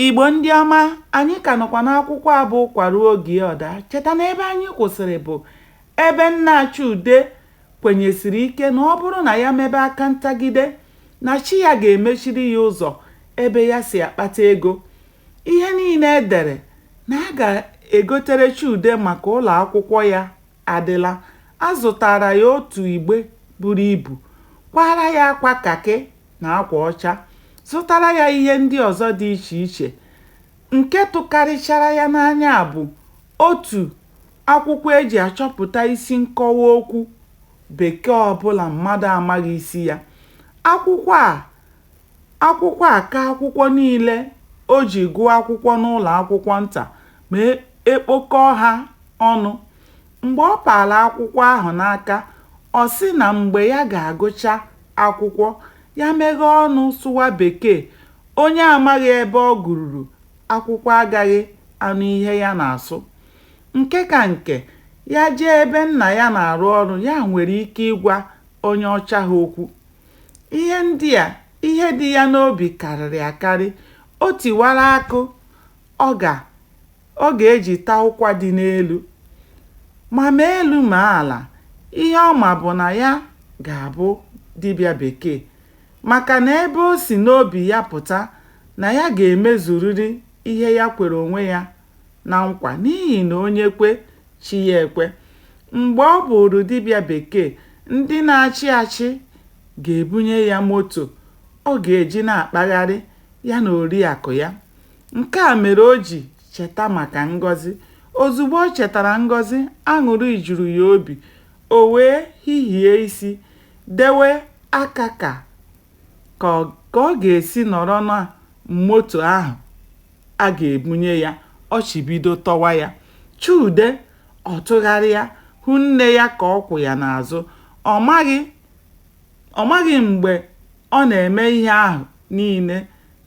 Igbo ndị ọma, anyị ka nọkwa n'akwụkwọ a bụ Ụkwa Ruo Oge Ọ Daa. Cheta na ebe anyị kwụsịrị bụ ebe nna Chude kwenyesiri ike na ọ bụrụ na ya mebe aka ntagide na chi ya ga-emechiri ya ụzọ ebe ya si akpata ego. Ihe niile e dere na a ga-egotere Chude maka ụlọ akwụkwọ ya adịla. A zụtaara ya otu igbe buru ibu, kwaara ya akwa kakị na akwa ọcha, zụtara ya ihe ndị ọzọ dị iche iche. Nke tụkarịchara ya n'anya bụ otu akwụkwọ e ji achọpụta isi nkọwa okwu Bekee ọ bụla mmadụ amaghị isi ya. Akwụkwọ a akwụkwọ a ka akwụkwọ niile o ji gụọ akwụkwọ n'ụlọ akwụkwọ nta ma e kpokọọ ha ọnụ. Mgbe ọ paara akwụkwọ ahụ n'aka, ọ sị na mgbe ya ga-agụcha akwụkwọ, ya meghee ọnụ sụwa Bekee, onye amaghị ebe ọ gụruru akwụkwọ agaghị anụ ihe ya na-asụ. Nke ka nke, ya jee ebe nna ya na-arụ ọrụ ya nwere ike ịgwa onye ọcha ha okwu. Ihe ndị a, ihe dị ya n'obi karịrị akarị. O tiwara akụ, ọ ga. Ọ ga-eji taa ụkwa dị n'elu. Ma ma elu ma ala, ihe ọ ma bụ na ya ga-abụ dibịa bekee maka na ebe o si n'obi ya pụta na ya ga-emezurịrị ihe ya kwere onwe ya na nkwa n'ihi na onye kwe, chi ya ekwe. Mgbe ọ bụụrụ dibịa bekee, ndị na-achị achị ga-ebunye ya moto ọ ga-eji na-akpagharị ya na oriakụ ya. Nke a mere o ji cheta maka Ngọzi. Ozugbo o chetara Ngọzi, aṅụrị juru ya obi. O wee hihie isi, dewe aka ka ka ọ ka ọ ga-esi nọrọ na moto ahụ a ga-ebunye ya, ọchị bido tọwa ya. Chude, ọ tụgharịa, hụ nne ya ka ọ kwụ ya n'azụ. Ọ maghị ọ maghị mgbe ọ na-eme ihe ahụ niile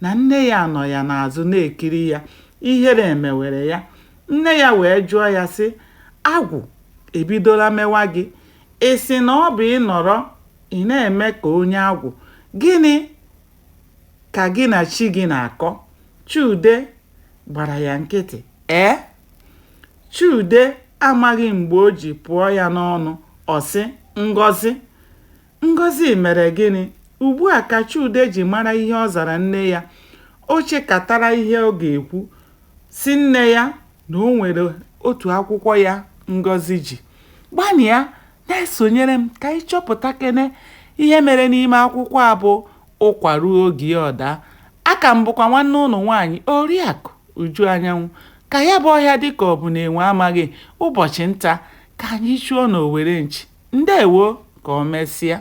na nne ya nọ ya n'azụ na-ekiri ya, ihere emewere ya. Nne ya wee jụọ ya sị, Agwụ ebidola mewa gị? Ị sị na ọ bụ ị nọrọ ị na-eme ka onye agwụ. Gịnị ka gị na chi gị na-akọ? Chude gbara ya nkịtị. Ee? Chude amaghị mgbe o ji pụọ ya n'ọnụ, ọ sị, Ngọzi, Ngọzi mere gịnị? Ugbu a ka Chude ji mara ihe ọ zara nne ya. O chekatara ihe ọ ga-ekwu, sị nne ya na o nwere otu akwụkwọ ya Ngọzi ji. Gbanịa na-esonyere m ka anyị chọpụtakene ihe mere n'ime akwụkwọ a bụ Ụkwa ruo oge ya ọ daa. Aka m bụkwa nwanne ụnụ nwaanyị, Oriakụ Uju Anyanwụ. Ka ya bụ ọhịa dị ka ọ bụ na enwe amaghị, ụbọchị nta ka anyị chụọ n'owere nchi. Ndewo! Ka o mesịa.